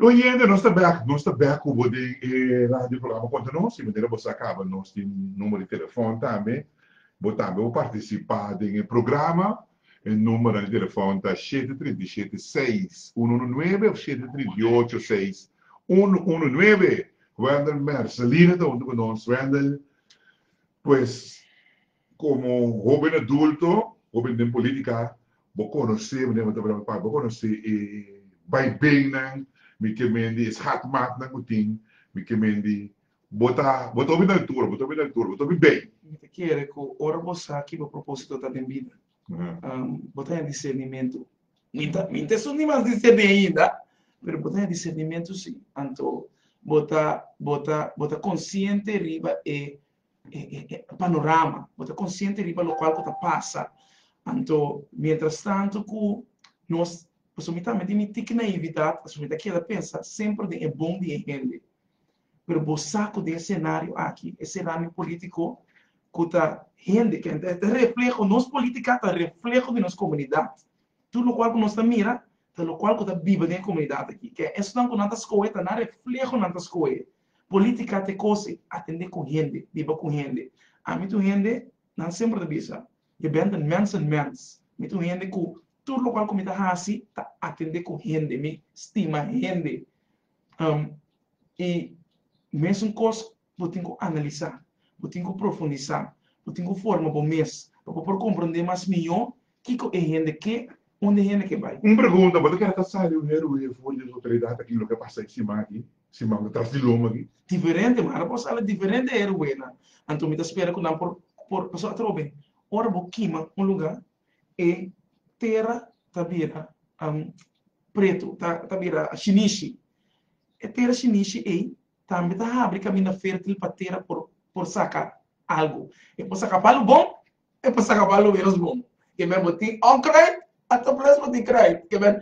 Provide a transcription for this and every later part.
Oyente nos ta bèk nos ta bèk ku bo den e radio programa konta nos di manera bo sa kaba nos tin number di telefòn tambe bo tambe por partisipá den e programa e numbernan di telefòn ta shete trinta i shete seis unu unu nuebe òf shete trinta i ocho seis unu unu nuebe Wendel Mercedina ta huntu ku nos Wendel pues. Komo hóben adulto, hóben den polítika, bo konosé, manera bo ta hablá ku pape, bo konosé e baibennan, mi ke men di e schatmaatnan ku tin, mi ke men di bo ta bo ta hopi na altura, bo ta hopi na altura, bo ta hopi bei. Mi ta kere ku ora bo sa ki bo propósito ta den bida, bo ta haña disernimentu. Mi ta mi ta esun di mas diserní ainda, pero bo ta haña disernimentu sí. Anto bo ta bo ta bo ta konsiente riba e e panorama, bo ta konsiente riba lokual ku ta pasa. Anto mientras tanto ku nos, pasobra mi tambe tin mi tiki naividat, pasobra mi ta keda pensa semper den e bon di e hende. Pero bo sa ku den e senario aki, e senario politiko ku ta hende ke ta ta refleho, nos politika ta refleho di nos komunidat. Tur lokual ku nos ta mira ta lokual ku ta biba den e komunidat aki. Ke esonan ku nan ta skohe ta nan refleho nan ta skohe. Politica ta e cose, atende cu hende, biba cu hende. Ami ta un hende, nan semper ta bisa, je bent een mens een mens. Mi ta un hende cu tur locual cu mi ta haci ta atende cu hende, mi stima hende. Um, y mesun cos bo tin cu analisa, bo tin cu profundisa, bo tin cu forma bo mes pa bo por comprende mas mijo Kiko e hende keda? Unda e hende ke bai? Un pregunta, bo ta kere ta sali un heroe for di nos otoridad aki loke a pasa e siman aki, siman ta tras di loma aki? Diferente, mara por sali diferente heroenan. Anto mi ta spera ku nan por por paso atrobe. Ora bo kima un luga, e tera ta bira pretu, ta ta bira shinishi. E tera shinishi ei tambe ta habri kaminda fertil pa tera por por saka algu. E por saka pa algu bon, E por saca balon menos bon. Ke men bo tin onkreit a ta bless bo tin kreit. Ke men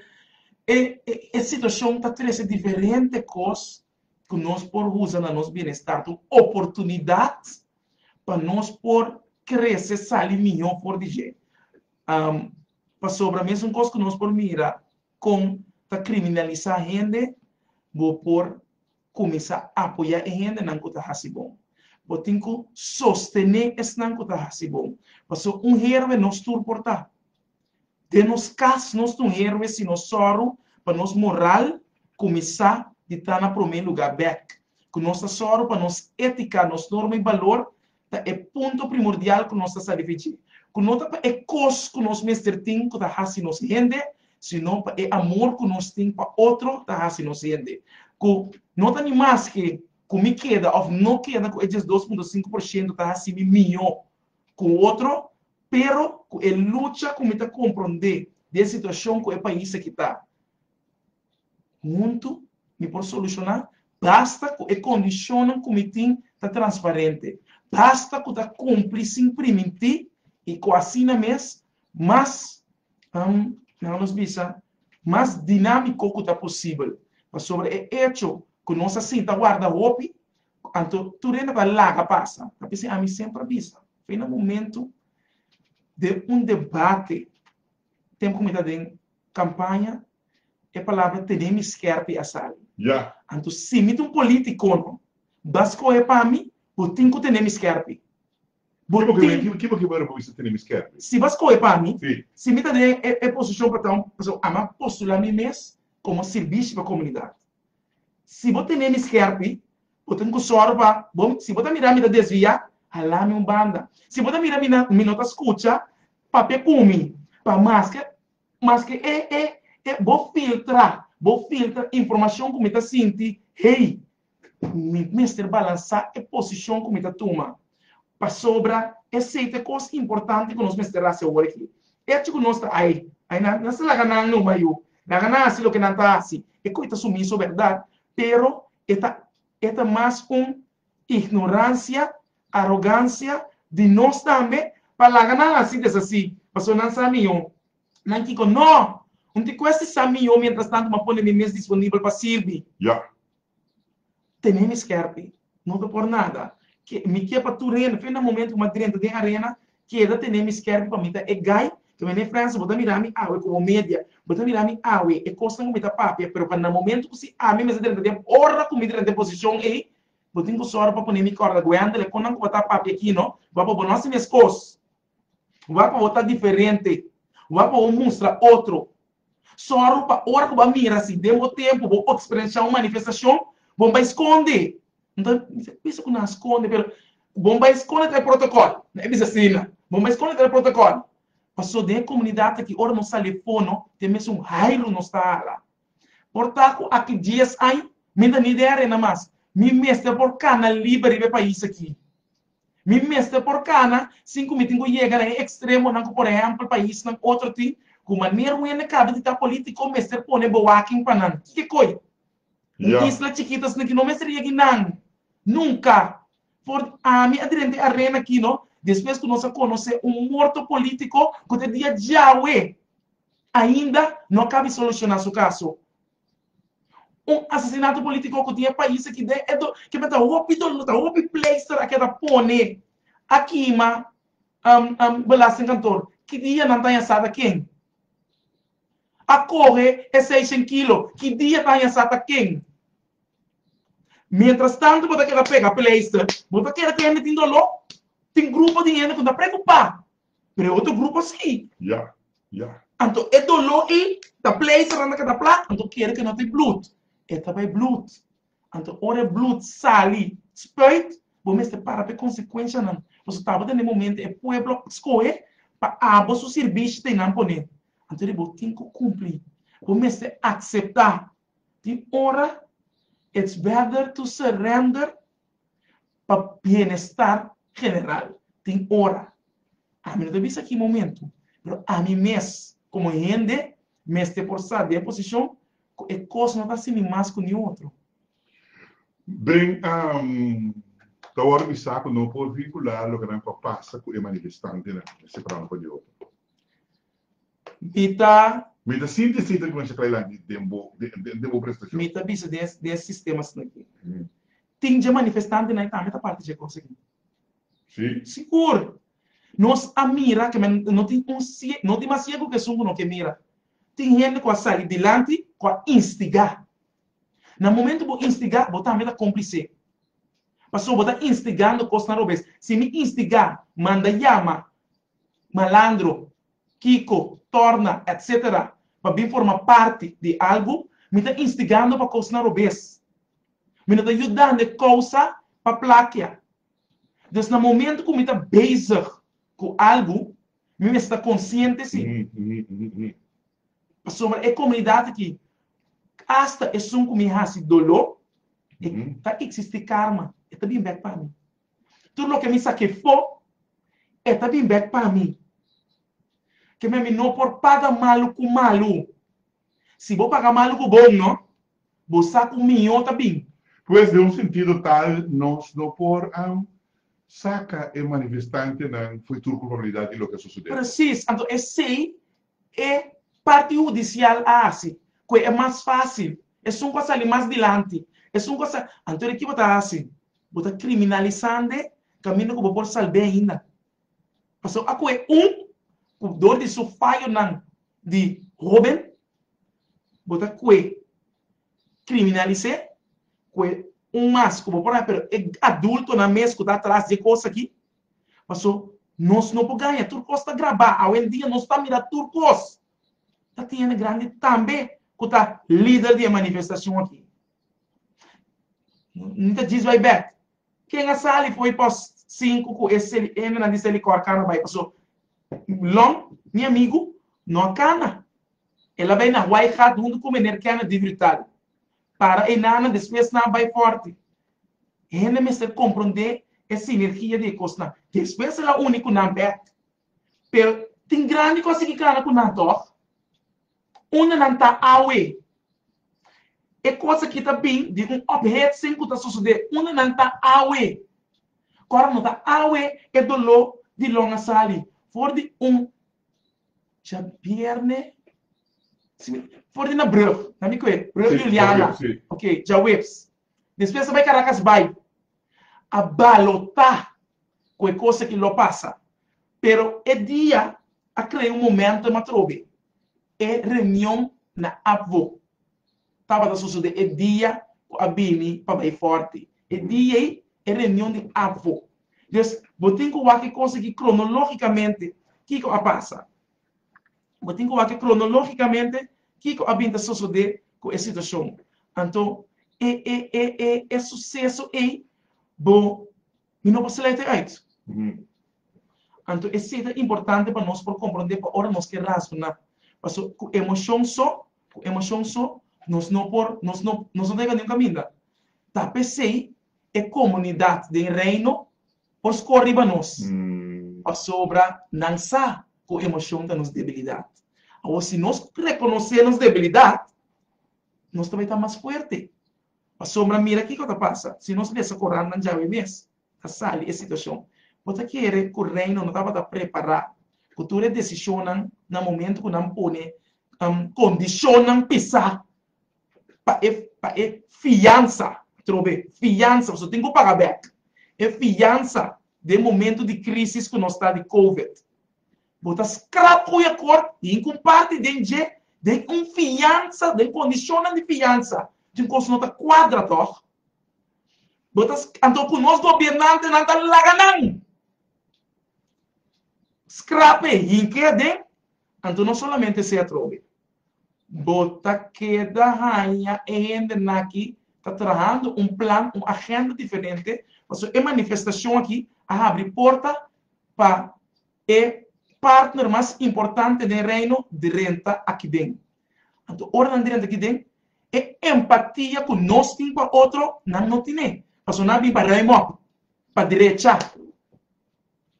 e e situacion ta trece diferente cos cu nos por usa na nos bienestar cu oportunidad pa nos por crece sali miho for di dje. Pasobra mesun cos cu nos por mira con ta criminalisa hende bo por kuminsá apoyá e hendenan ku ta hasi bon. Bo tin ku sostené esnan ku ta hasi bon. Pasobra un herbe nos tur por ta. Den nos kas nos ta un herbe si nos sòru pa nos moral kuminsá di ta na promé lugá bèk, ku nos ta sòru pa nos étika, nos norma i balor ta e punto primordial ku nos ta sa di Fiji, ku no ta pa e kos ku nos mester tin ku ta hasi nos hende, sino pa e amor ku nos tin pa otro ta hasi nos hende. Ku no ta ni mas ke ku mi keda òf no keda ku e diesdos punto sinku por shento ta hasi mi mihó ku otro, pero ku e lucha ku mi ta komprondé di e situashon ku e pais akí ta. Huntu mi por solushoná, basta ku e kondishonnan ku mi tin ta transparente, basta ku ta kumpli sin primintí i ku asina mes mas, laga nos bisa, mas dinámiko ku ta posibel. Pasobra e echo ku nos a sinta warda hopi, anto tur hende ta laga pasa. Ta p'esei ami semper a bisa, fe na momentu den un debate, tempu ku mi ta den. Campaña, e palabra tene mi skerpi a sali. Ya. Anto si mi ta un politicono, ba scohe pa mi, bo tin cu tene mi skerpi. Bo tin. Kibo ke, kibo ke bo ora bo bisa tene mi skerpi? Si ba scohe pa mi, Si. si mi ta den e posicion pa ta un, pasobra a mi a postula mi mes como un sirbishi pa comunidad. Si bo tene mi scherpi, bo tin cu sòru pa bo. Si bo ta mira mi ta desvia, hala mi un banda. Si bo ta mira mi na mi no ta scucha, papia cu mi, pa maske maske e e e bo filtra bo filtra informacion cu mi ta sinti, hey, mi mester balansa e posicion cu mi ta tuma. Pasobra esei ta e kos importante ku nos mester hasi awor aki. Echi ku nos ta ai, ai nan, nan sa laga nan no wayú, laga nan hasi loke nan ta hasi, e koi ta sumiso bèrdat, pero e ta e ta mas un ignoransia, arogansia, di nos tambe pa laga nan hasi desasí pasobra nan sa mihó. Nan kiko? Nò! Un ti kuesta sa mihó miéntras tantu m'a pone mi mes disponibel pa sirbi. Ya, tene mi skerpi no ta por nada ke mi ke pa tur hende fe na momento ku mi a drenta den arena keda tene mi skerpi pa mi ta e gai ke mi ne Franse bo ta mira mi awe komo media bo ta mira mi awe e kosnan ku mi ta papia pero pa na momento ku si ami mes a drenta den ora ku mi drenta den posishon ei bo tin ku sòru pa pone mi kòrda guendele kon nan ku bo ta papia aki no bo a bo bo no hasi meskos Wak bo ta diferente. Wak bo mustra otro. Sòru pa ora ku bo a mira si den bo tempu bo eksperensiá un manifestashon, bo bai skonde. Bo ta bisa, Kisa ku nan a skonde? Pero bo bai skonde ta e protokòl. Nan a bisa asina. Bo bai skonde ta e protokòl. Pasó den e komunidat aki ora nos sali e fono ta e mesun hairu nos ta hala. Por ta ku aki dies aña mi ta nidea rena mas. Mi mester por kana liber riba e pais aki. Mi mester por cana sin cu mi tin cu yega na e extremonan cu por ehempel paisnan otro tin cu maner wende caba di ta politico mester pone bewaking pa nan. Kiko coy? Un isla chikita asina ki no mester yegi nan. Nunca. For ami a drente arena aki no despues cu nos a conoce un morto politico cu te dia djawe ainda no a cabi soluciona su caso. Un asesinato politico cu tin e pais aki den e dol kimen ta hopi dol no ta hopi pleister aki a ta pone a kima belasting kantoor ki dia nan ta haya sa ta ken a coge e seishen kilo ki dia ta haya sa ta ken mientras tanto bo ta keda pega pleister bo ta keda cu hende tin dolor tin grupo di hende cu no ta preocupa Pero e otro grupo si. Ya. Ya. Anto e doló i ta plei saranda keda plak, anto kere ke no ta e blut. E ta bai blut. Anto ora e blut sali, spuit, bo mester para pa e konsekuenshanan. Pasobra tabata na e momento e pueblo a skohe pa abo su sirbishi ta e nan pone. Anto ri bo tin ku kumpli. Bo mester akseptá. Tin ora, it's better to surrender pa bienestar general. Tin ora, ami no ta bisa ki momento, pero ami mes como hende mester por sa den e posicion cu e cos no ta así ni mas cu ni otro. Bem, ta hora mi sa cu no por vincula loke nan por pasa cu e manifestantenan, mester para un pa di otro. Mi ta. Mi ta sinti esei ta cuminsha trae lanti den bo, den bo prestacion. Mi ta bisa den e, den e sistemas nan aki. Tin dje manifestantenan e tambe ta parti dje cos aki? Si. Sigur. Nos a mira ke men no tin un sie, no tin mas ciego ke esun ku no ke mira. Tin hende ku a sali dilanti ku a instigá. Na momento bo instigá, bo tambe ta complicé. Pasobra bo ta instigando cosnan robes. Si mi instigá, manda yama malandro, kiko, torna, etc. Pa bin forma parti di algu, mi ta instigando pa kosnan robes. Mi no ta yudando e kousa pa plakia. Dus na momento ku mi ta bezig ku algu, mi mester ta konsiente si. Pasobra e komunidat aki, asta esun ku mi hasi dolo, e ta eksistí karma, e ta bin bèk pa mi. Tur loke mi sa ke fo, e ta bin bek pa mi. Ke me mi no por paga malu ku malu. Si bo paga malu ku bon, no? Bo sa ku mihó ta bin. Pues, den un sentido tal, nos no por saka e manifestantenan foi tur kulpabilidat di loke a sosodé. Presis. Anto esei E parti hudisial a hasi ku e mas fásil esun ku a sali mas dilanti, esun ku a sa. Anto di ki bo ta hasi? Bo ta kriminalisande kaminda ku bo por salb'é ainda. Pasó a ku e un ku dor di su fayonan di hóben bo ta kue kriminalis'é ku e un mas ku bo por hasi, pero e adultonan mes ku ta atras dje kos akí Paso nos no por gaña tur cos ta grabá awe en dia nos ta mira tur cos ta tiene grandi tambe cu ta lider di e manifestacion aki mi ta djis bai bek ken a sali fo'i pos sinku cu e seli hembranan di seli cor cana bai paso long mi amigo no a cana el a bai na wai gat huntu cu meneer kenneth di brutali Para e nana despues nan bai forte. E hende mester compronde e sinergia di e cosnan. Despues el a uni cu nan bek. Pero tin grandi cos tin ki cana cu nan toch. Unda nan ta awe? E cos aki ta bin di un ophetsing cu ta sosode unda nan ta awe. Cu ora no ta awe e dolor di long a sali for di un Djabièrnè, si mi for di na brùf, na mi kue, brùf Juliana, ok, djaweps, despues ta bai Karakas bai a balotá ku e kos aki lo pasa. Pero e dia a krea un momentum atrobe, e reunion na Apvo. tabata sosodé e dia ku a bini pa bai fòrti. E dia ei e reunion di Apvo. Des bo tin ku wak e kos aki kronológikamente kiko a pasa. Bo tin ku wak kronológikamente kiko a bin ta sosodé ku e situashon. Anto e e e e e suseso ei bo. Mi no por slète ùit. Anto esei ta importante pa nos por komprondé pa ora nos ke razoná, paso ku emoshon so, ku emoshon so, nos no por, nos no, nos no ta yega niun kaminda. Ta p'esei e komunidat den Reino por skor riba nos, pasobra nan sa ku emoshon ta nos debilidat. Awor, si nos rekonosé nos debilidat, nos ta bai ta mas fuerte. Pasobra mira kiko ta pasa, si nos lesa korannan djawe mes ta sali e situashon. Bo ta kere ku Reino no tabata prepará ku tur e desishonnan na momentu ku nan pone kondishonnan pisá pa e pa e fiansa atrobe, fiansa pasobra tin ku paga bèk, e fiansa den momentu di krísis ku nos ta di kowid. Bo ta skrap ku e akòrt i hin kumparti den dje den un fiansa, den kondishonnan di fiansa. Tin kos ku no ta kuadra, tòg? Bo ta Anto ku nos gobiernantenan ta laga nan skrap ei hin ke aden? Anto no solamente se atrobe. Bo ta keda haña e hendenan aki ta trahando un plan, un agenda diferente, pasobra e manifestashon aki a habri porta pa e partner mas importante den Reino drenta akiben. Anto ora nan drenta akiben, e empatia ku nos tin pa otro nan no tin'é, pasobra nan a bin pa ruim'òp, pa drechá.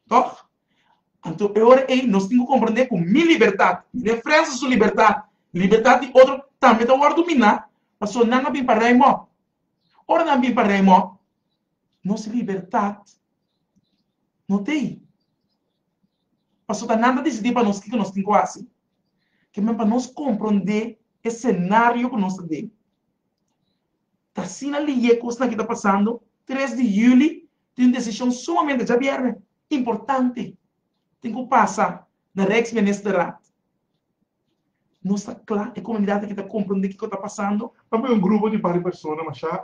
Tòg? Anto e ora ei nos tin ku komprendé ku mi libertat i den Frans su libertat, libertat di otro, tambe ta wòrdu miná, pasobra nan a bin pa ruim'òp. Ora nan bin pa ruim'òp, nos libertat, No ta ei. Paso ta nan ta disidí pa nos kiko nos tin ku hasi. Ke men pa nos komprondé e senario ku nos ta den. Ta asina liye kosnan ke ta pasando, tres di yüli tin un desishon sumamente djabièrnè, importante, tin ku pasa na Rijksministerraad. Nos ta kla e komunidat aki ta komprondé kiko ta pasando. Tambe un grupo di par di persona mashá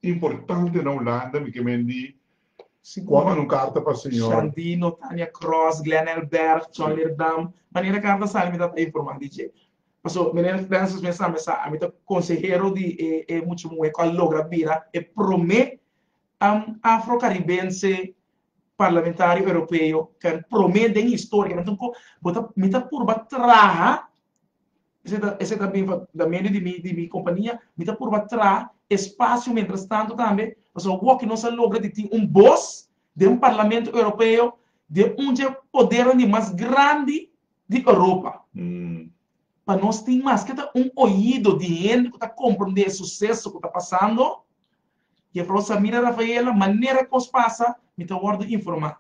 importante na Hulanda mi ke mendi Kwam an un karta pa señor. Shandino, Tania Cross, Glenn Elbert, John Leerdam, manera karta a sali mi ta ta informa di dje. Paso Meneer Francis mes a mi sa ami ta konsehero di e e mucha muhe ku a logra bira e prome afro karibense parlamentario europeo, prome den historia, mi ta purba traha Esei ta bin na medio di mi di mi kompania, mi ta purba traha e spasio mientras tanto tambe, pasobra awoki nos a logra di tin un bos den Parlamento Europeo di un dje podernan di mas grandi di Europa, pa nos tin maske ta un oido di hende ku ta komprendé e suseso ku ta pasando. Yefrou Samira Rafaela, manera ku kos pasa mi ta wòrdu informá.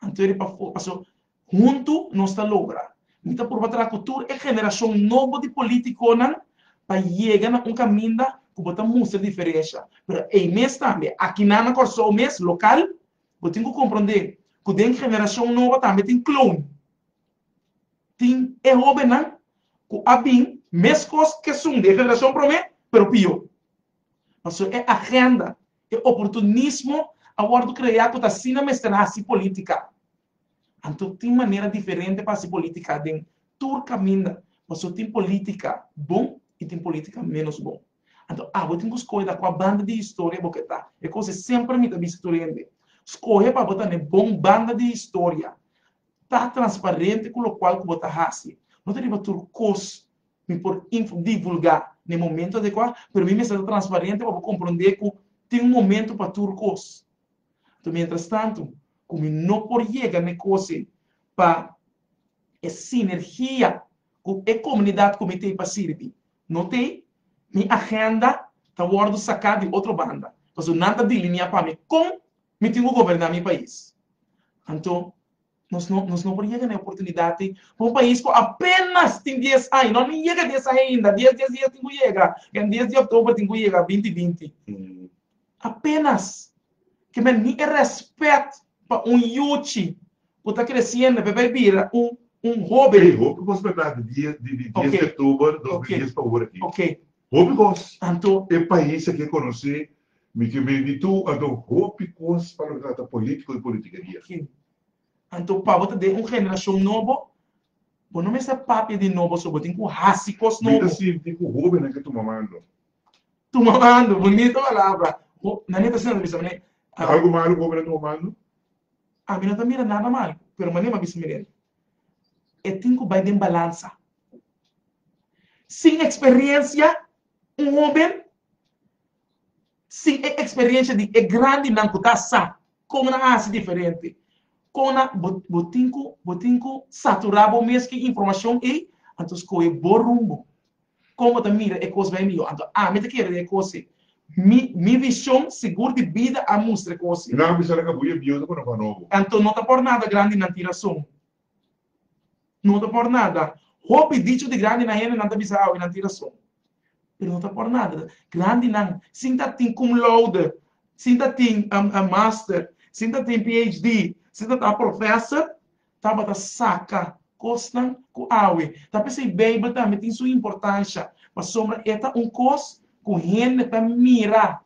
Anto di pa paso Huntu nos ta logra. Mi ta purba traha cu tur e generacion nobo di politiconan pa yega na un caminda cu bo ta mustra diferencia. Pero ey mes tambe, aki nan na Corsou mes, local, bo tin cu comprende cu den generacion nobo tambe tin clown. Tin e hobennan cu a bin mescos kesun di e generacion prome, pero pio. Pasobra e agenda, e oportunismo a wordo crea cu ta asina mester haci politica. Anto tin manera diferente pa hasi politica den tur caminda, paso tin politica bon y tin politica menos bon. Anto abo tin cu scohe ta cua banda di historia bo ke ta. E cose semper mi ta bisa tur hende, scohe pa bo ta n'e bon banda di historia. Ta transparente cu locual cu bo ta hasi. No ta riba tur cos mi por info divulga n'e momento adecua, pero mi mester ta transparente pa bo comprende cu tin un momento pa tur cos. Anto mientras tanto cu mi no por yega n'e cosi pa e sinergia cu e comunidad cu mi t'ey pa sirbi no t'ey, mi agenda ta wordo saca di otro banda pasobra nan ta delinea pa mi con mi tin cu goberna mi pais. Anto Nos no nos no por yega na e oportunidad ei pa un pais cu apenas tin dies aña, no a ni yega dies aña ainda, dies dies dies tin cu yega, den dies di october tin cu yega binti binti, apenas ke men ni e respet pa un yuchi cu ta creciendo e papia e bira un un hopi, Ei hopi cos berdad di dies di di dies di october dos mil dies pa ora aki, hopi cos, anto e pais aki a conoce Mi ke be di tu anto hopi kos pa lo trata politico y politikeria. Kin. Anto pa bo ta den un generacion nobo, bo no mester papia di nobo so bo tin cu haci kos nobo. Mi ta sinti cu hobennan ke tuma mando. Tuma mando, bonito palabra. Ho, nan e ta sinti bisa manera. Ta algo malo cu hobennan tuma mando? Ami no ta mira nada mal, pero manera mi a bisa Miguel, e tin cu bay den balansa. Sin experiencia Un hóben sin e eksperiensha di e grandinan ku ta sa kon nan hasi diferente, kon nan bo bo tin ku bo tin ku saturá bo mes ku e informashon ei, anto skohe bo rumbo. Kon bo ta mira e kos bai mihó? Anto ami ta kere e kos ei. Mi mi vishon sigur di bida a mustra e kos ei. Nan a bisa nan ka hui e biensa ku nan ku anobo. Anto no ta por nada grandinan tin rason No ta por nada. Hopi dicho di grandinan hende nan ta bisa awe nan tin rason. Pero no ta por nada. Grandinan, sin ta tin cum laude, sin ta tin master, sin ta tin PHD, sin ta ta professor, tabata saca cosnan cu awe. Ta p'esey Bijbel tambe tin su importancia, pasobra e ta un cos cu hende ta mira.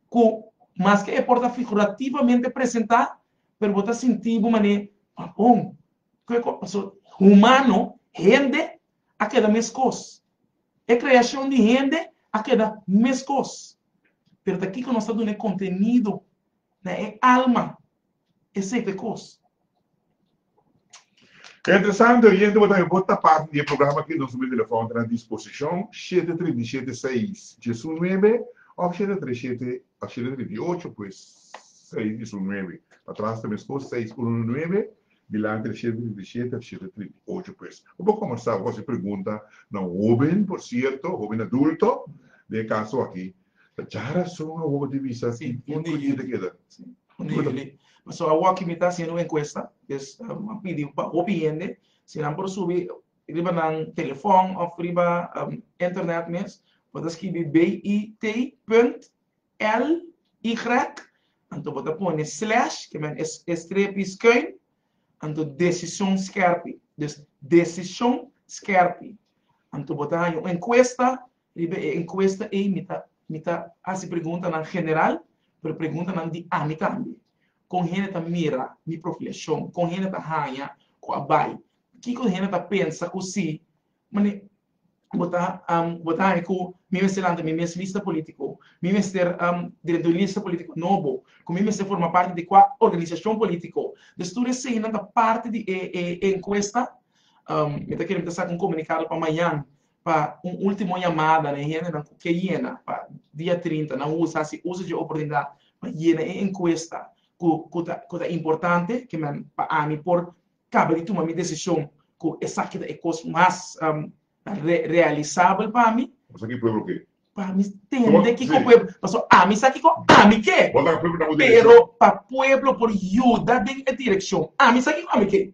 ku maske e por ta figurativamente presentá, pero bo ta sintí bo manera, Ma bon, ku e kos pasó? Humano, hende, a keda meskos. E kreashon di hende a keda meskos. Pero ta kiko nos ta duna e kontenido na e alma e sete kos. Ta interesante oyente bo tambe por ta parti di e programa aki nos numero di telefòn ta na disposishon shete trinta i shete seis diesunuebe òf shete tres shete òf shete trinta i ocho pues seis diesunuebe pa tras ta meskos seis unu unu nuebe dilanti ta shete trinta i shete òf shete trinta i ocho pues bo por kombersa bo por hasi pregunta na un hoben por sierto hoben adulto den e kaso aki Ta dja rason awo di bisa cu un niño ta keda. Un niño li. So awo aki mi ta haciendo un encuesta, dus a pidi pa hopi hende si nan por subi riba nan telefon of riba internet mes bo ta skibi BIT punt LY anto bo ta pone slash ke men e strepi skuin anto Decicion Skerpi. Dus Decicion Skerpi anto bo ta haña un encuesta Riba e encuesta ey mi ta mi ta haci preguntanan general pero preguntanan di ami tambe. Con hende ta mira mi profilacion? Con hende ta hanja cu a bay? Kico hende ta pensa cu si mane bo ta bo ta hanja cu mi mester lanta mi mes lista politico? Mi mester drenta un lista politico nobo? Cu mi mester forma parti di cua organisacion politico? Des tur eseynan ta parti di e e encuesta. Mi ta kere mi ta saca un comunicado pa mañan pa un ultimo yamada na e hendenan cu ke yena pa dia trinta nan usa haci uso dje oportunidad pa yena e encuesta cu cu ta importante ke men pa ami por caba di tuma mi decision cu esaki ta e cos mas realisabel pa mi. Bo sa ki pueblo ke? Pa mi tende kico pueblo, paso ami sa kico ami ke. Bo ta ka pueblo na bo direccion. Pero pa pueblo por yuda den e direccion, ami sa kico ami ke.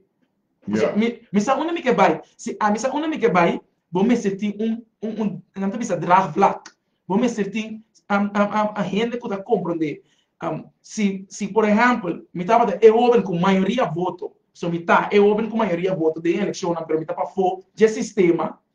Esaki, mi, mi sa unda mi ke bai. Si ami sa unda mi ke bai, bo mester tin un, un, un, nan ta bisa draagvlak. Bo mester tin, am, am, am, am hende ku ta komprondé. Am, si, si por ehèmpel, mi tabata e hóben ku mayoria voto, pasobra mi ta e hóben ku mayoria voto den e elekshonnan, pero mi ta pafó dje sistema,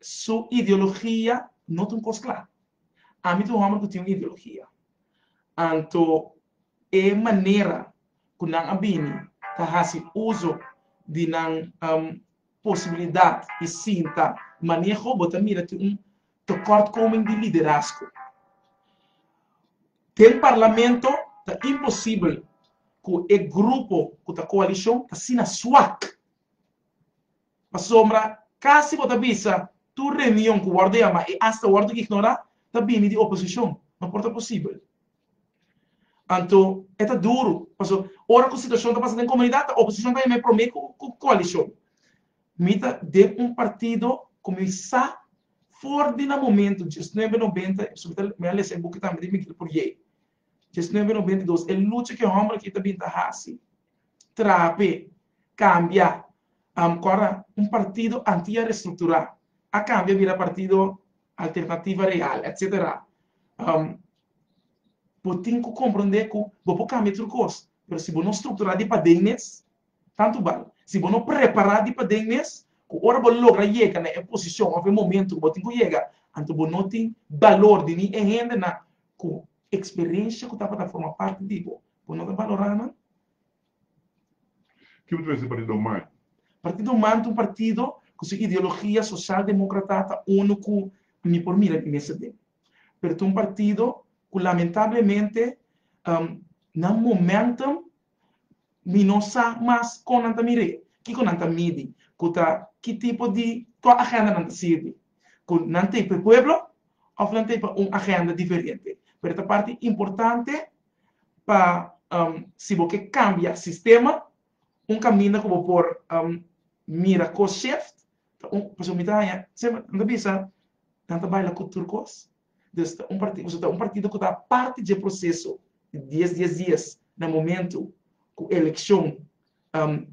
Su ideologia no ta un kos kla. Ami ta un hòmber ku tin un ideologia. Anto e manera ku nan a bini ta hasi uso di nan posibilidat di sinta maneho bo ta mira ku un tekortkoming di liderazgo. Den parlamento ta imposibel ku e grupo ku ta koalishon ta asina swak. Pasobra casi bo ta bisa tur reunion cu wordo yama e asta wordo ignora ta bini di oposicion. No por ta posibel. Anto e ta duro paso ora cu situacion ta pasa den comunidad ta oposicion ta yam'e prome cu coalicion. Mi ta den un partido cu mi sa for di nan momento dies nuebe nobenta mi a lesa e buki tambe di Miguel Puryeey. Diecinuebe no benta dos, E lucha ku e hòmber akí ta bin ta hasi, trape, kambia, am kòrda un partido antia restrukturá, a kambia bira partido Alternativa Real, etcetera. Am Bo tin ku komprondé ku bo por kambia tur kos, pero si bo no strukturá di paden mes, Tantu bal si bo no prepará di paden mes ku ora bo logra yega na e posishon òf e momentu ku bo tin ku yega, anto bo no tin balor di ni e hendenan ku eksperensha ku tabata forma parti di bo, bo no ta balorá nan. Ke bo ta mester Partido Human? Partido Human ta un partido ku su ideologia soshal demokrata ta unu ku mi por mira mi mes aden. Pero ta un partido ku lamentablemente nan momentum Mi no sa mas kon nan ta mir'é, kiko nan ta midi, ku ta ki tipo di kua agenda nan ta sirbi, ku nan t'ei p'e pueblo òf nan t'ei pa un agenda diferente. Pero ta parti importante pa si bo ke kambia sistema, un kaminda ku bo por mira kos shift ta un, pasobra mi ta haña semper nan ta bisa nan ta baila ku tur kos, Nos ta un partido, nos ta un partido cu ta parti dje proceso di dies dies dies na momento cu eleccion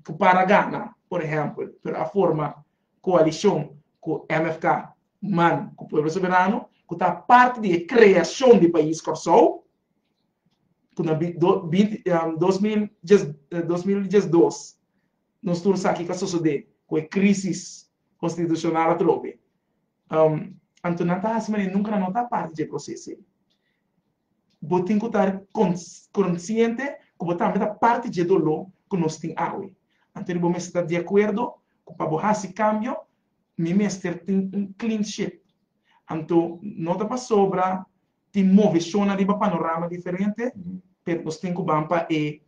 cu para gana por ehempel pero a forma coalicion cu mfk man cu Pueblo Soberano cu ta parti di e creacion di pais Corsou cu na dos mil diesdos nos tur sa kico a sosode cu e crisis constitucional atrobe Anto nan ta hasi manera nunka nan no ta parti dje proces ei. Bo tin ku ta konsiente ku bo tambe ta parti dje doló ku nos tin awe. Anto di bo mester ta di akuerdo ku pa bo hasi kambio mi mester tin un clean sheet. Anto no ta pasobra tin moveshonnan riba panorama diferente, pero nos tin ku ban pa e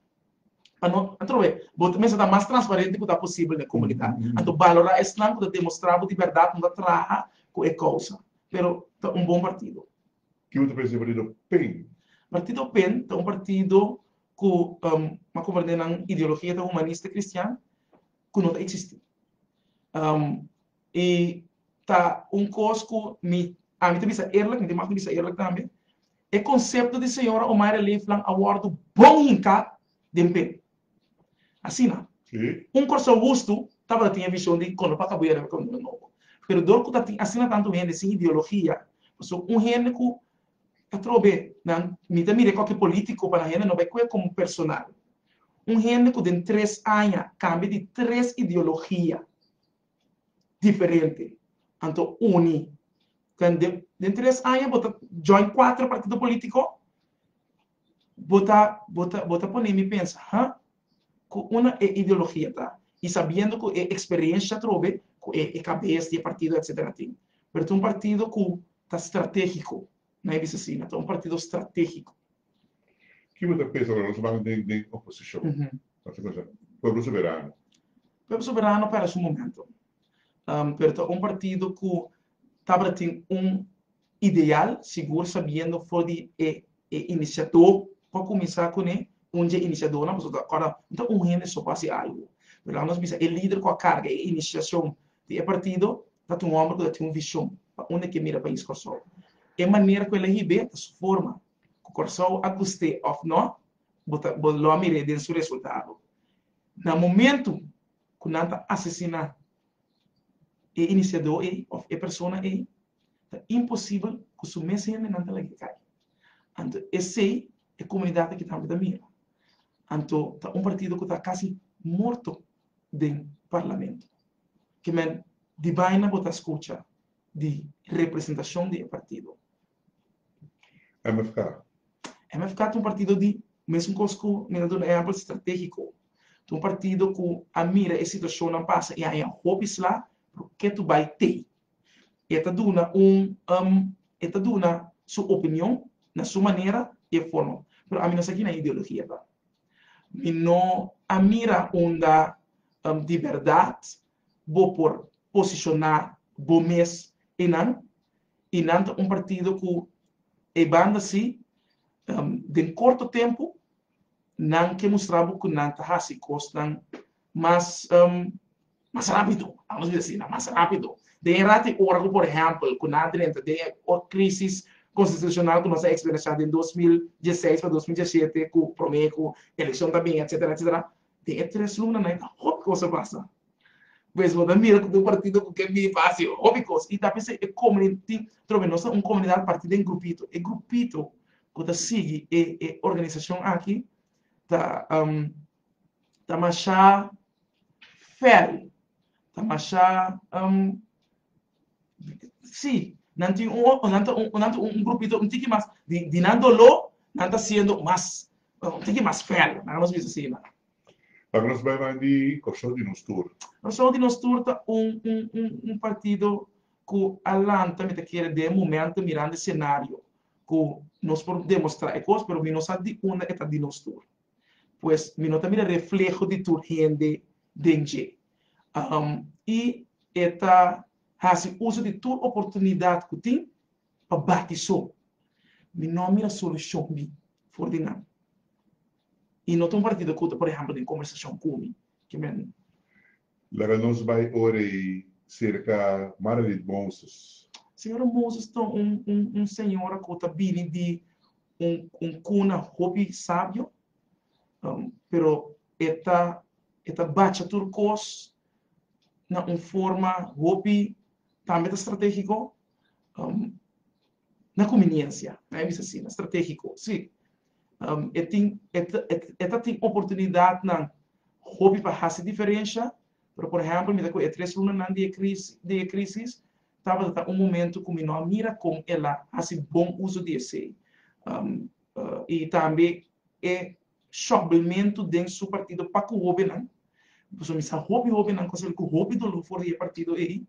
Pa no, anto we, bo ta mester ta mas transparente ku ta posibel na e komunidat. Anto balorá esnan ku ta demostrá bo di bèrdat ku no ta traha ku e kousa, pero ta un bon partido. Kico ta pensa di partido pen? Partido pen ta un partido ku a komprendé nan ideologia ta humanista kristian ku no ta eksistí. I ta un kos ku mi, ami ta bisa eerlijk, mi tin maf di bisa eerlijk tambe, e konsepto di Señora Omaira Leeflang a wòrdu bon hinká den p'e. Asina, un Kòrsou hustu tabata tin e vishon di kon lo pa kabu yara kon lo nobo. Pero dor ku ta tin asina tantu hende sin ideologia, pasobra un hende ku ta trobe nan, mi ta mira koke polítiko pa nan hende no bai kue komo personal. Un hende ku den tres aña kambia di tres ideologia. diferente anto uni den den tres aña bo ta join cuatro partido politico bo ta bo ta bo ta pone mi pensa ha cu una e ideologia ta y sabiendo cu e experiencia atrobe cu e cabes di e partido etcetera tin pero ta un partido cu ta strategico Nan e bisa si, nan ta un partido strategico. Ki bo ta pensa ora nos a basa den den oposicion? Nos ta pensa, Pueblo Soberano. Pueblo Soberano para su momento, pero ta un partido cu tabata tin un ideal, sigur sabiendo for di e e iniciador pa cuminsa cune, un dje iniciadornan, pasobra ta acorda no ta un hende so pa haci algo, pero laga nos bisa e lider cu a carga e iniciacion di e partido ta ta un homber cu ta tin un vision pa unda e kier mira pais Corsou. E manera cu el a hibe ta su forma, cu Corsou a guste of no bo ta bo lo a mire den su resultado. Na momento cu nan ta asesina e iniciado ey of e persona ey ta imposible cu su mes hendenan ta lag'e cay. Anto esey e comunidad aki tambe ta mira. Anto ta un partido cu ta casi morto den parlamento. Ke men di baina bo ta skucha di representashon di e partido? MFK. MFK ta un partido di mesun kos ku mi ta duna ehèmpel stratégiko. Ta un partido ku a mira e situashonnan pasa i a haña hopi sla por ke tur bai tei. E ta duna un e ta duna su opinion na su manera i e forma, pero ami no sa kina ideologia ta. Mi no a mira unda di berdad bo por posicioná bo mes i nan, i nan ta un partido cu e banda si den corto tempo nan ke mustra bo cu nan ta haci cosnan Mas mas rápido, amos di asina, mas rápido. Den e rat i ora ku por ehèmpel ku nan drenta den e krisis konstitushonal ku nos a eksperensiá den dos mil dieseis pa dos mil diesishete ku promé ku elekshon ta bini etsetera etsetera den e tres luna nan a hopi kos a pasa. Pues bo ta mira ku bo partido ku ke bini pa hasi hopi kos i ta p'esei e komuniti trove nos ta un komunidat partí den grupito e grupito ku ta sigui e e organisashon aki ta. ta mashá fèl, ta mashá um sí, nan tin un un nan ta un nan ta un grupito un tiki mas di di nan doló nan ta siendo mas un tiki mas fèl, nan a nos bisa asina. Pasobra nos bai bay di Kòrsou di nos tur. Kòrsou di nos tur ta un un un un partido ku a lanta mi ta kere den e momento mirando e senario ku nos por demostrá e kos pero mi no sa di unda e ta di nos tur. pues mi no ta mira refleho di tur hende den dje. I e ta hasi uso di tur oportunidat ku tin pa bati so. Mi no a mira solushon mi for di nan. I no ta un partido ku ta, por ehempel, den kombersashon ku mi. Laga nos bai ora ei cerca Mara Reed Moses. Señora Moses ta un un señora cu ta bini di un un cuna hopi sabio, pero e ta e ta bacha tur cos na un forma hopi tambe ta strategico. na kominiencia, na e bisa asina, strategico, si, e tin, e ta tin oportunidadnan hopi pa haci diferencia, pero por ehempel mi ta cu e tres lunanan di e crisis, di e crisis, tabata ta un momento cu mi no a mira con el a haci bon uso di esey, y tambe e. Shockbelmento den su partido pa cu hobennan. Pasobra mi sa hopi hobennan con soli cu hopi dolor for di e partido ey.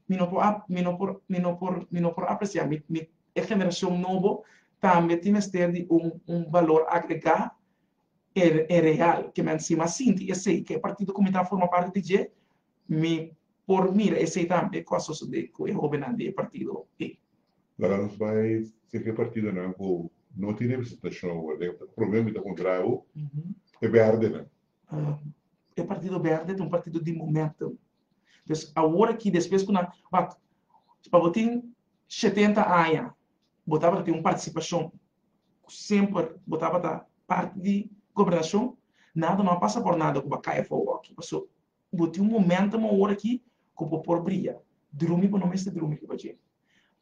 Mi no por mi no por mi no por mi no por aprecia. Mi mi e generacion nobo tambe tin mester di un un balor agrega e e real. Ke men si mas sinti esey ke e partido cu mi ta forma parti di dje Mi por mira esey tambe, e cos sosode cu e hobennan di e partido ey. Laga nos bay si aquel partidonan cu no tin representacion awor den e prome mita contrabo, e berdenan. E partido berde ta un partido di momento. Pues awor aki despues cu nan, wacht, pa bo tin shetenta aña bo tabata tin un participacion cu semper bo tabata parti di gobernacion, nada no a pasa por nada cu bo a cay afo awor aki, pasobra Bo tin un momento mo ora aki cu bo por bria. Drumi bo no mester drumi riba djeri.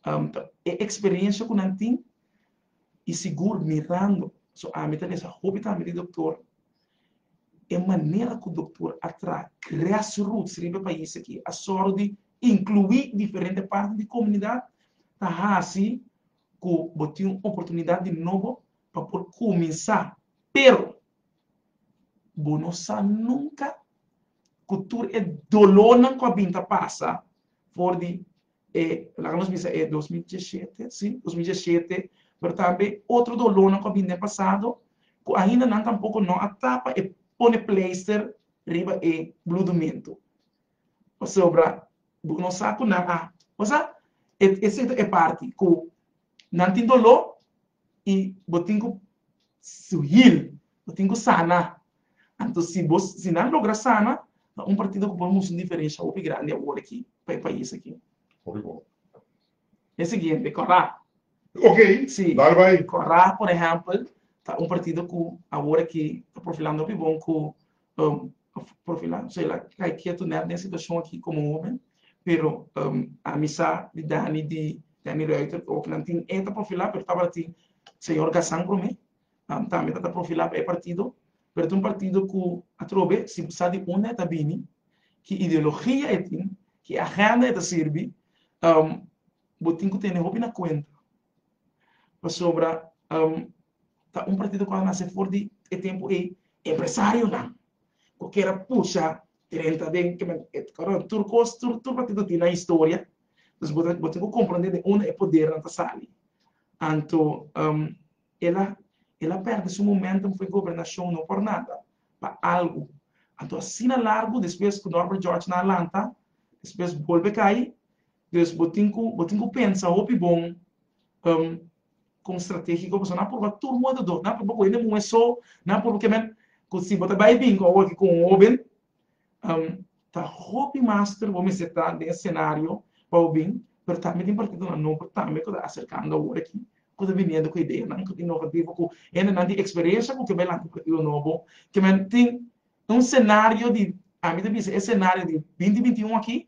Ta e experiencia cu nan tin y sigur mirando. So ami ta mester hopi tambe di doctor. E manera cu doctor a traha grass roots riba e pais aki a sor di inclui diferente parten di comunidad ta haci cu bo tin un oportunidad di nobo pa por cuminsa. Pero Bo no sa nunca cu tur e dolornan cu a bin ta pasa for di e, laga nos bisa e dos mil diesisiete, si, dos mil diesisiete, pero tambe otro dolornan cu a bin den pasado, cu ainda nan tampoco no a tapa e pone pleister riba e bludumentu. Pasobra bo no sa cu nan a, bo sa, e, esei ta e parti cu nan tin dolor, i bo tin ku su hil, bo tin ku sana. Anto si bo si nan logra sana ta un partido ku por mos un diferensha hopi grandi awor aki pa e pais aki. Hopi bo. E siguiente Kòrá. Ok, dal bai. Si, Kòrá por ehèmpel ta un partido ku awor aki ta profilando hopi bon ku por fin la, so el a kai ketu nèt den situashon aki komo hóben, pero ami sa di Danny di Danny Ruiter ku oki nan tin e ta profilá pero tabata señor Gazan promé, tambe ta ta profilá pa e partido, pero ta un partido ku atrobe si bo sa di unda e ta bini, ki ideologia e tin, ki agenda e ta sirbi, bo tin ku tene hopi na kuenta, pasobra ta un partido cu a nace for di e tempo ey empresarionan cu kier a pusha renta den kimen tur cos tur partido tin nan historia entonces bo ta bo tin cu comprende den unda e podernan ta sali anto el a el a perde su momentum for gobernacion no por nada pa algo anto asina largo despues cu Norbert George nan a lanta despues bolbe cay dus bo tin cu bo tin cu pensa hopi bon Con strategie cu boso na purba tur mundo do na purba cu hende muhe so na purba ke men cu si bo ta bay binco awo aki cu un hoben ta hopi master bo mester ta den e scenario pa bo bin pero tambe tin partidonan nobo tambe cu ta acercando awor aki cu ta biniendo cu ideanan cu ta inovativo cu hendenan tin experiencia cu ke bay lanta partido nobo ke men tin un scenario di ami ta bisa e scenario di binti binti un aki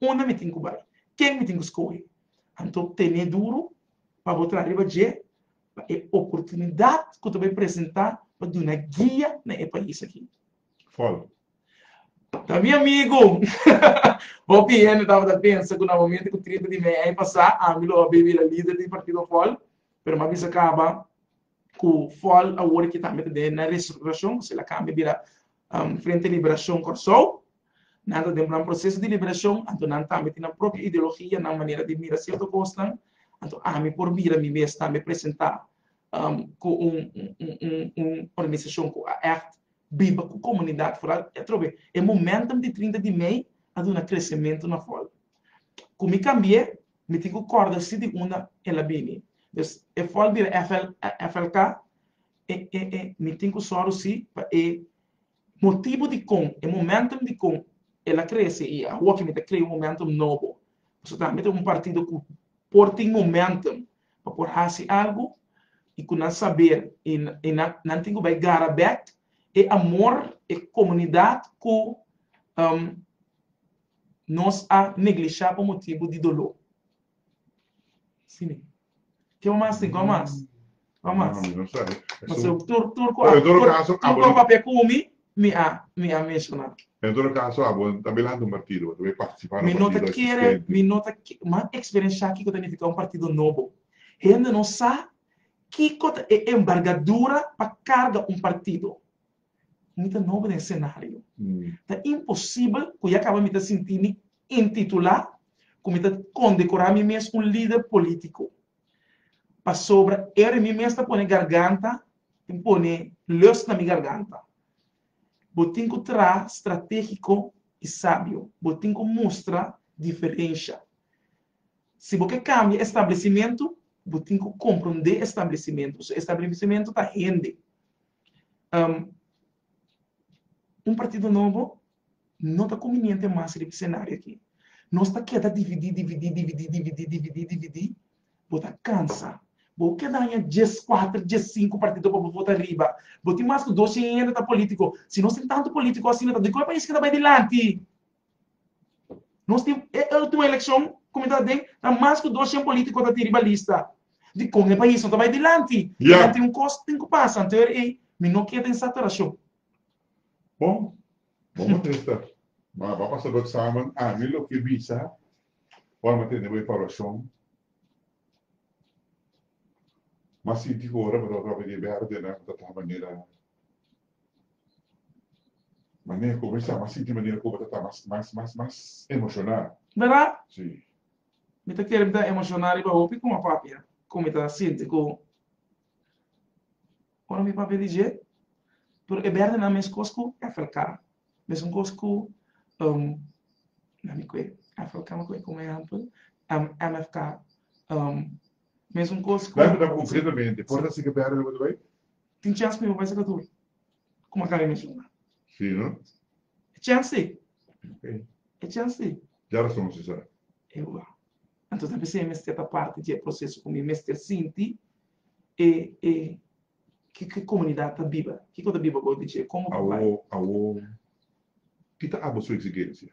Unda mi tin ku bai? Ken mi tin ku skohe? Anto tene duru pa bo traha riba dje pa e oportunidat ku ta bai presentá pa duna guia na e pais aki. Fol. Ta mi amigu! Hopi hende tabata pensa ku na momento ku trinta di mei aña pasá ami lo a bai bira lider di partido Fol, pero mi a bisa kaba ku Fol awor e kita mete den na restrukturashon, kusela kambia bira Frente Liberacion Corsou, nan ta den plan proceso di liberacion, anto nan tambe tin nan propio ideologia, nan manera di mira cierto cosnan, anto ami por mira mi mes tambe presenta cu un organisacion cu a echt biba cu comunidad foral, y atrobe e momentum di trinta di mei a duna crecemento na foral. Cu mi cambie, mi tin cu corda si di unda el a bini. Dus e foral bira FLK e e e mi tin ku sòru si pa e motibu dikon e momentum dikon el a krese i awor ke mi ta krea un momentum nobo pasobra tambe mi ta un partido ku por tin momentum pa por hasi algu i ku nan saber i i nan nan tin ku bai gara bèk e amor e komunidat ku nos a neglishá pa motibu di doló. Simi. Ke bo mas tin? Kon mas? Kon mas? Mi no sabi. Paso tur tur ku tur tur ku a papia ku mi, mi a mi a menshoná. En todo kaso abo ta bai lanta un partido, bo ta bai partisipá na un partido eksistente. Mi no ta kere, mi no ta kere, m'a eksperenshá kiko ta nifiká un partido nobo. Hende no sa kiko ta e enbargadura pa karga un partido. Mi ta nobo den senario. Ta imposibel ku ya kaba mi ta sinti mi intitulá ku mi ta kondekorá mi mes un lider polítiko. Pasobra e ora mi mes ta pone garganta, tin pone lus na mi garganta. Bo tin ku traha stratégiko i sabio. Bo tin ku mustra diferensha. Si bo ke kambia e stablesimentu, bo tin ku komprondé e stablesimentu. So e stablesimentu ta hende. Un partido nobo no ta conveniente mas riba e scenario aki. Nos ta keda dividi, dividi, dividi, dividi, dividi, dividi, bo ta cansa. Bo a keda aña dies cuater, dies cinco partido pa bo vota riba. Bo tin mas cu dos cien hende ta politico. Si nos tin tanto politico asina ta di cu e pais ke ta bay dilanti? Nos tin e último elekshon ku mi ta den ta mas ku doshen polítiko ta tin riba lista. Dikon e pais no ta bai dilanti? Kidan tin un kos tin ku pasa anterior ei? Mi no keda en saturashon. Bon, bo no trista. Bo a bai pasa bo eksamen, ami lo ke bisa ora mi a tende bo evaluashon. Mi a sinti ku ora bo ta wak riba di e bèrdena bo ta traha manera Manera ku bo bisa, m'a sinti manera ku bo ta ta mas, mas, mas, mas emoshoná. Bèrdat? Sí. Mi ta kere mi ta emoshoná riba hopi kuma papia, ku mi ta sinti ku ora mi papia di dje, pero e bèrdi nan mes kos ku FLK, mesun kos ku, na mi kue, FLK mi kue komo ehèmpel, MFK, Mesun kos ku. Bèrbida konkretamente por ta siga bèrbida ku ta bai? Tin chèns ku mi por bai saka tur ku Makani mensiona. Sí no? E chèns sí. Ok. E chèns sí. Dja rason si sera. Ewa. Anto ta bis'é mester ta parti dje proseso ku mi mester sinti e e ke ke komunidat ta biba, kiko ta biba gou di dje, komo ku bai. Awo awo ki ta abo su eksigensia?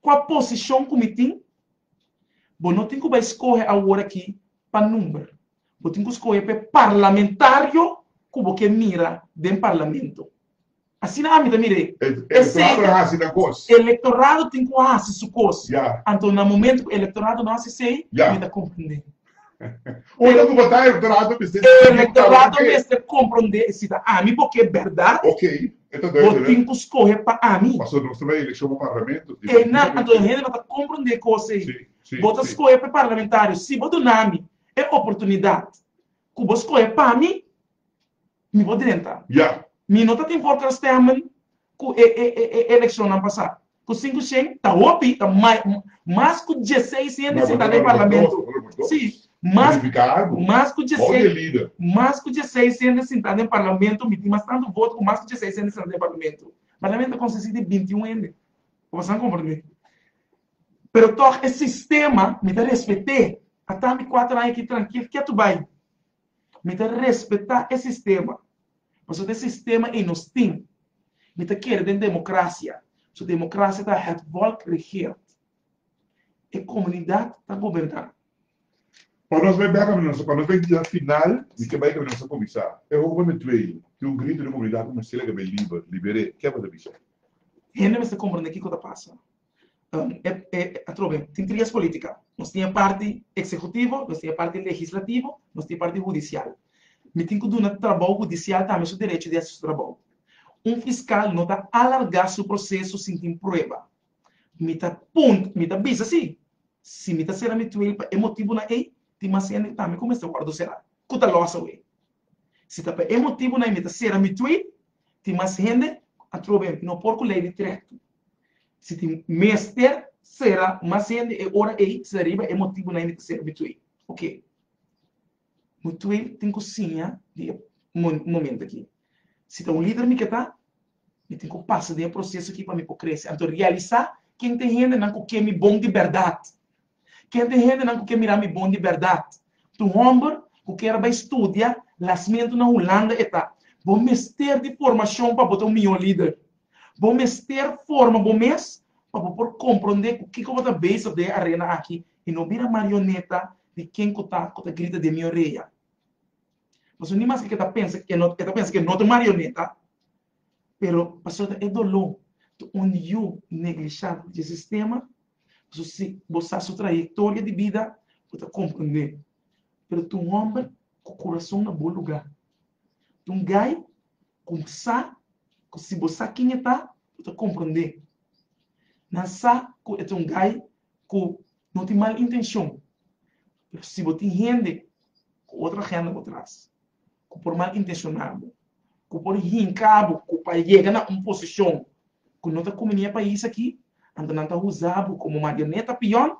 Kua posishon ku mi tin? Bo no tin ku bai skohe aworakí pa number. Bo tin ku skohe pa e parlamentario ku bo ke mira den parlamento. Asina ami ta mir'é. Elektorado a hasi nan kos. Elektorado tin ku hasi su kos. Anto na momentu ku elektorado no hasi esei, mi ta komprend'é. Ora ku bo ta elektorato mester di sabi un tabla Elektorato papel. mester komprondé si ta ami bo ke bèrdat Ok, e ta bo duidele. tin ku skohe pa ami. Pasobra nos ta bai elekshon pa parlamento. E nan, anto e hende no ta komprondé kos ei. Si, si, Bo ta si. skohe pa e parlamentario si bo duna mi e oportunidat ku bo skohe pa mi. Mi por drenta. Ya. Mi no ta tin por kan stemmen ku e e elekshonnan pasá. Ku sinku shen ta hopi, ta mai, mas ku dieseis hende sentá na e parlamento. Sí, mas, mas ku dieseis, mas ku dieseis hende sentá den parlamento, mi tin mas tantu voto ku mas ku dieseis hende sentá den parlamento. Parlamento ta konsistí di binti un hende. Bo ta sa komprendé. Pero tòg e sistema mi ta respet'é. A tami kuater aña aki trankil, ke tu bai? Mi ta respetá e sistema, paso ta e sistema ei nos tin. Mi ta kere den democracia, paso democracia ta het volk regeert. E comunidad ta goberná. Pa nos bai bek caminda, pa nos bai dia final, mi ke bai caminda nos a comisá. E hoga mi tuey, cu un grito den comunidad, cu un sila ke bai liber, liberé, ke bo ta bis'e? Hende mester comprendé kico ta pasa. Atrobe tin tres politica. Nos tin e parti executivo, nos tin e parti legislativo, nos tin e parti hudicial. Mi tin cu duna trabou hudicial tambe su derecho di haci su trabou. Un fiscal no ta alarga su proceso sin tin prueba. Mi ta punt, mi ta bisa si, si mi ta cera mi tuel pa e motibunan ey, tin mas hende tambe cu mester wordo cera, cu ta los awe. Si ta pa e motibunan ey mi ta cera mi tuey, tin mas hende, atrobe, no por cu ley di trek. Si tin mester sera mas hende e ora ei, se riba e motibu nan e mester sera bituey. Oke. Bituey tin ku siña di e momento aki. Si ta un lider mi ke ta, mi tin ku pasa den e proseso aki pa mi por krese. Anto realisá ken ta e hendenan ku ke mi bon di bèrdat. Ke te hendenan ku ke mira mi bon di bèrdat? Tu hòmber ku kier a bai studia lasmentu na Hulanda e ta. Bo mester di formashon pa bo ta un mihó lider. Bo mester forma bo mes pa bo por komprondé ku kiko bo ta bezig den e arena aki i no bira marioneta di ken ku ta ku ta grita den mi orea. Pasobra ni mas ke ta pensa ke e ta pensa ke no ta un marioneta, Pero pasobra ta e doló di un yu neglishá di e sistema, pasobra si bo sa su trayektoria di bida bo ta komprendé. Pero ta un hòmber ku kurason na bon lugá. Ta un gai ku sa ku si bo sa kin e ta, bo ta komprendé. Nan sa ku e ta un gai ku no tin mal intenshon, pero si bo tin hende ku otro agenda por tras ku por mal intenshoná bo. ku por hinka bo ku pa yega na un posishon ku no ta kuminí e pais akí, anto nan ta usa bo komo marioneta, pion.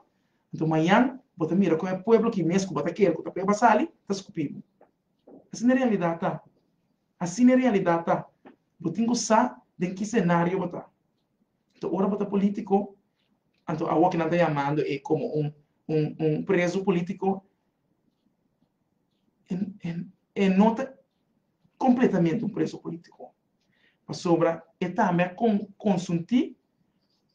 Anto mañan bo ta mira kon e pueblo ki mes ku bo ta kere ku ta peba sali, ta skupí bo. Asina e realidat ta. Asina e realidat ta. Bo tin ku sa den ki senario bo ta. Anto ora bo ta polítiko, anto awoki nan ta yamando e komo un un prezu polítiko, e no ta completamente un preso politico, pasobra e tambe a consunti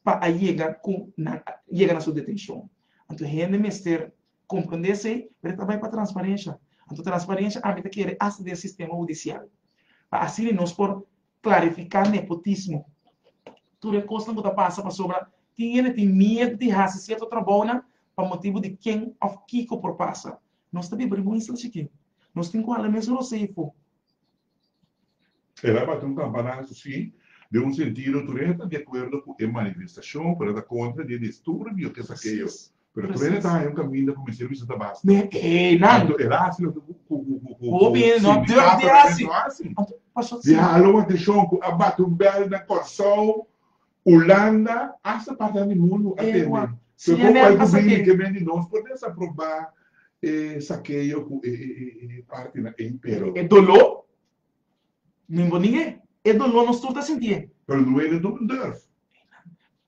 pa a yega cu nan yega na su detencion. Anto hende mester comprende esey, pero e ta bay pa transparencia. Anto transparencia ami ta kere hasta den sistema hudicial, pa asina nos por clarifica nepotismo, tur e cosnan cu ta pasa pasobra tin hende tin miedo di haci cierto trabounan pa motibu di ken of kico por pasa, Nos ta biba riba un isla chikí. Nos tin ku hala mes rosé i fo. El a bati un kampanasu, sí. Den un sentido, tur hende ta di akuerdo ku e manifestashon, pero nan ta kontra di e disturbio ke Sakeyo. Pero tur hende ta haña un kaminda ku mester bisa ta basta. Anto el a hasi loke ku sindikato ta mester hasi. Di hala un ateshon ku a bati un bèl na Kòrsou Hulanda hasta parti nan di mundu a tende. So con bay cu bini ke men di nos por mester a proba e saqueo cu e partinan ey pero. E dolo no bo ninge e dolo nos tur ta sintie. Pero no ene no bo durf.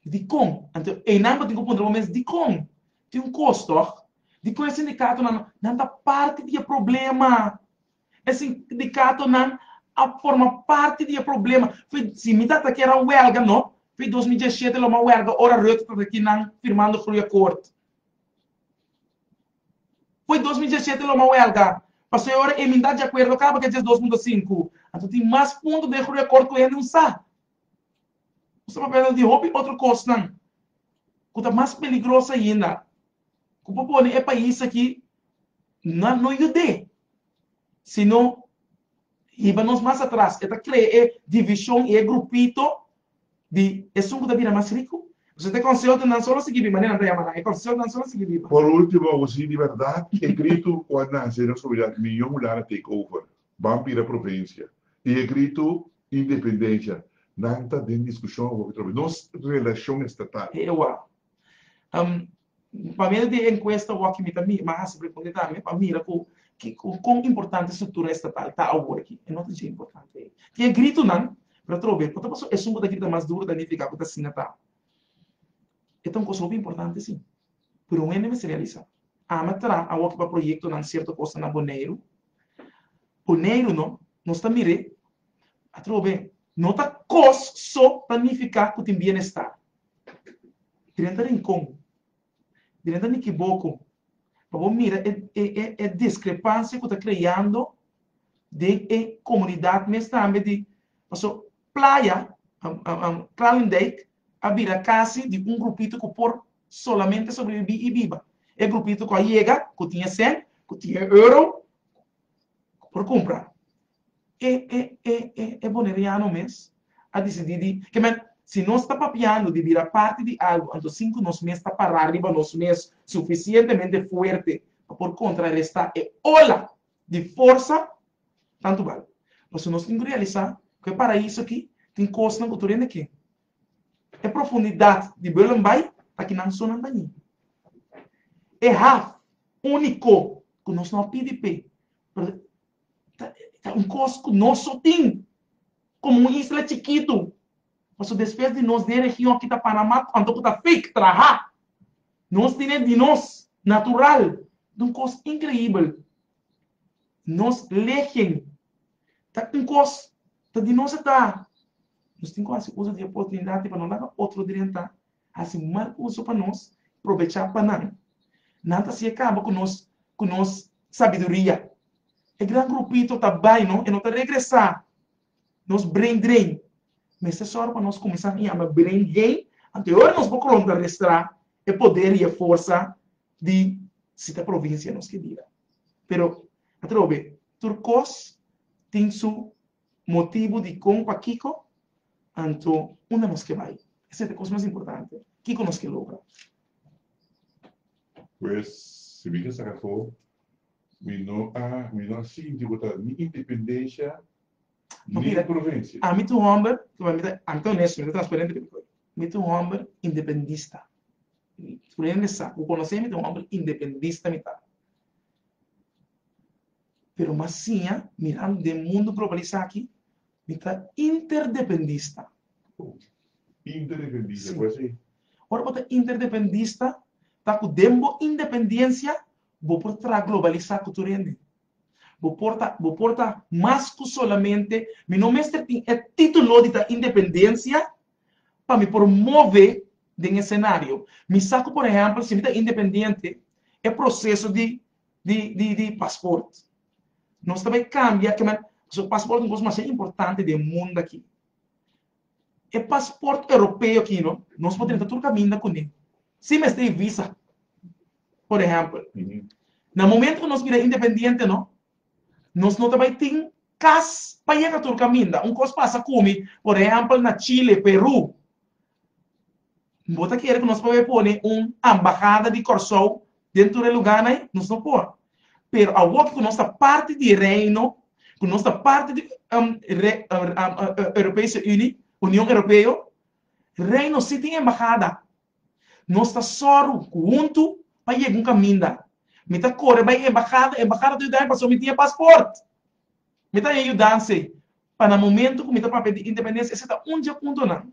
Dicon anto eynan bo tin cu puntra bo mes dicon tin un cos toch? Dicon e sindicatonan nan ta parti di e problema? E sindikatonan a forma parti di e problema. Si mi ta ta kier a welga no, f'e dos mi dia shete lo mi a welga ora Rutte ta ta aki nan firmando groeiakkoord. F'e dos mi dia shete lo mi a welga paso e ora emindá dje akuerdo kaba ke dje dos punto sinku. Anto tin mas punto den e groeiakkoord ku hende un sa. Bo sa papia no tin hopi otro kosnan ku ta mas peligroso ainda. ku por pone e pais aki na no yud'é, sino hiba nos mas atras. E ta krea e divishon i e grupito di esun ku ta bira mas riku. Pasobra e konsehonan nan solo a sigui biba, manera nan ta yama nan, e konsehonan nan solo a sigui biba. Por ultimo, bo si di bèrdat e gritu ku a nase den sobridat miyon Hulanda take over, ban bira provinsia, i e gritu independensia, nan ta den diskushon awor atrobe nos relashon estatal. E ewa, Pa medio di e encuesta awor mi ta mira, mi a hasi pregunta tambe pa mira cu con importante structura estatal ta awor aki. E no ta dje importante ei. Tin e gritonan, pero otro bes por ta pasobra esun cu ta grita mas duro ta nifica cu ta asina a ta. E ta un cos hopi importante si, pero un hende mester realisa. Ana tra awor aki pa proyectonan cierto cos na Boneiru. Boneiru no, nos ta mir'e. Atrobe, no ta cos so ta nifica cu tin bienestar. Drenta rincon, drenta mi kiboco, pa bo mira e discrepancia cu ta creando den e comunidad mes tambe di, paso playa, Kralendijk, a bira casi di un grupito cu por solamente sobrevivi y biba. E grupito cu a yega, cu tin e cent, cu tin e euro, por cumpra e e e e e boneriano mes a dicidi di ke men si nos ta papiando di bira parti di algo anto sin cu nos mes ta para riba nos mes suficientemente fuerte pa por contraresta e ola di forsa tanto bal paso nos tin cu realisa cu e paraiso aki tin cosnan cu tur hende ken E profundidat di beulen bai ta ki nan so nan ta ñi. E haf úniko ku nos no a pidi p'e, pero ta un kos ku nos so tin komo un isla chikitu. Paso despues di nos den region kita Panamá ku anto ku ta fake traha, nos tin e di nos natural. Ta un kos inkreibel. Nos legen ta un kos ta di nos a ta. Nos tin ku hasi uso di e oportunidat ei pa no laga otro drienta hasi mal uso pa nos i probechá pa nan. Nan ta sigue kaba ku nos ku nos sabiduria. E gran grupito ta bai no e no ta regresá. Nos brain drain. Mester sòru pa nos kuminsá tin yama brain gain anto e ora nos bo kolonta restrá e poder i e forsa di si ta provinsia nos ke bira. Pero atrobe tur kos tin su Motibu dikon, pa kiko, anto unda nos ke bai. Esei ta kos mas importante. Kiko nos ke logra? Pues, si mi ke saka afó, mi no a mi no a sinti ku ta ni independensha ni provensia. Ami ta un hòmber, ami ta ami ta onesto, mi ta transparente riba koi. Mi ta un hòmber independista. Tur hende sa ku konosemi ta un hòmber independista mi ta. Pero mas siña miran den mundu globalisá aki, mi ta interdependista. Interdependista, ku así? Ora bo ta interdependista, ta ku den bo independensia bo por traha globalisá ku tur hende. Bo por ta, bo por ta mas ku solamente, mi no mester tin e título di ta independensia, pa mi por move den e senario. Mi sa ku por ehèmpel si mi ta independiente e proseso di di di pasport nos ta bai kambia ke manera pasobra pasport ta un kos masha importante den mundu aki. E pasport europeo aki no nos por drenta tur kaminda kuné sin mester e visa por ehèmpel. Na momento ku nos bira independiente no nos no ta bai tin Kas pa yega tur kaminda. Un kos pasa ku mi, por ehèmpel na Chile, Peru, bo ta kere ku nos probe pone un ambahada di Kòrsou den tur e lugánan? Nos no por. Pero awor ku nos ta parti di e Reino, ku nos ta parti di Europese Uni, Union Europeo, Reino sí tin embahada. Nos ta sòru ku huntu pa yega un kaminda. Mi ta kore bai embahada. Embahada ta yuda mi pasobra mi tin e pasport. Mi ta haña yudans'e pa na momentu ku mi ta papia di independensia e seta un dje huntu nan.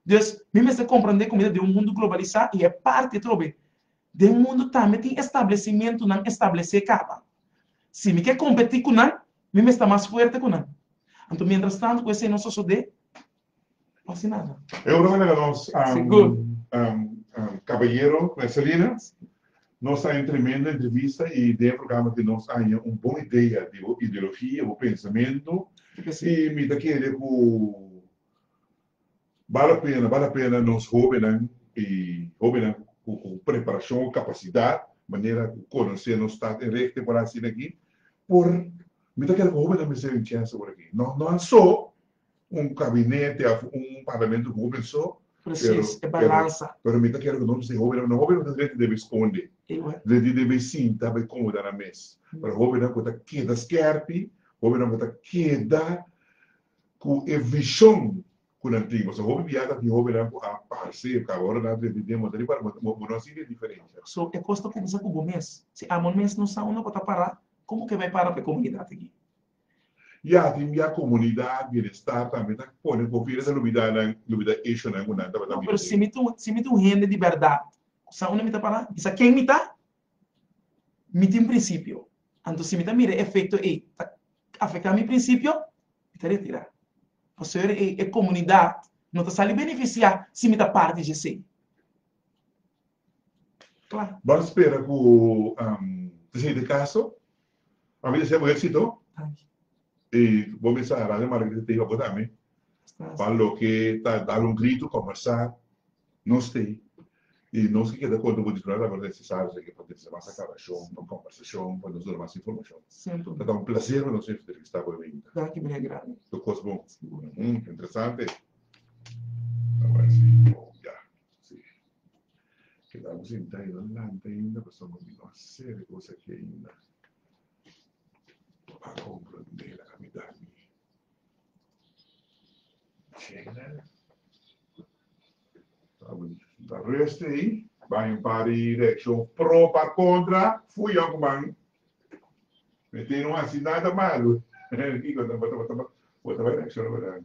Dus, mi mester komprendé ku mi ta den un mundu globalisá i e parti atrobe den mundu tambe tin establesimentunan establesé kaba. Si mi ke kompetí ku nan, mi mester mas fuerte ku nan. Anto mientrastantu ku esei no sosodé. E ora mester a nos kabayero Messalina. Nos ta en tremendo entrevista y den e programa tin nos aña un bon idea di bo ideologia, bo pensamento y mi ta kere cu bal a pena, bal a pena nos hobennan y hobennan cu preparacion o capacidad manera cu conoce nos stad en regte por haci esaki por mi ta kere cu hobennan mester Vincenzo por aki no no aso. Un kabinete of un parlamento ku hoben so. Presis, e balansa. Pero mi ta kere ku nos mester hobennan, no hobennan no ta drenta debe eskonde, drenta debe sinta pa e komoda nan mes, pero hobennan ku ta keda skèrpi, hobennan ku ta keda ku e vishon ku nan tin, pasobra hopi biaha ta tin hobennan ku a parse kaba ora nan drenta den montá riba, bo no a sinti e diferensha. So e kos ta kuminsá ku bo mes. Si amo mes no sa unda pa ta pará, komo ke bai para pa e komunidat aki? I aki mia komunidat bienestar tambe ta pone ku hopi esei lubidanan lubida ishunan ku nan tabata biba den. No, pero si mi ta un hende di bèrdat, ku sa unda mi ta para? Mi sa ken mi ta. Mi tin prinsipio. Anto si mi ta mira e efekto ei ta afektá mi prinsipio, mi ta retirá. Pasobra ei e komunidat no ta sali benefisiá si mi ta parti dje esei. Bo a spera ku esei ta kaso? A bisa esei bo éksito? I bo bisa Aran i Margarita ta hiba bo tambe pa loke ta dal un gritu, kombersá nos te i nos ke keda konta bo disfruta tambe ora e Cesar esei ke por trese mas aklarashon pa un kombersashon pa nos duna mas informashon. Ta ta un plaser pa nos entrevistá bo e winter. Tur kos bon. Interesante. Ke ta bosey ta ayuda lanta ainda pasobra bo mira un seri di cosa ke ainda no a comprende la cambiada mi chena ta bonito ta rest ey ban un par di reaccion pro pa contra fuyo cu ban mete no haci nada malo kiko bo ta bay reacciona verdad.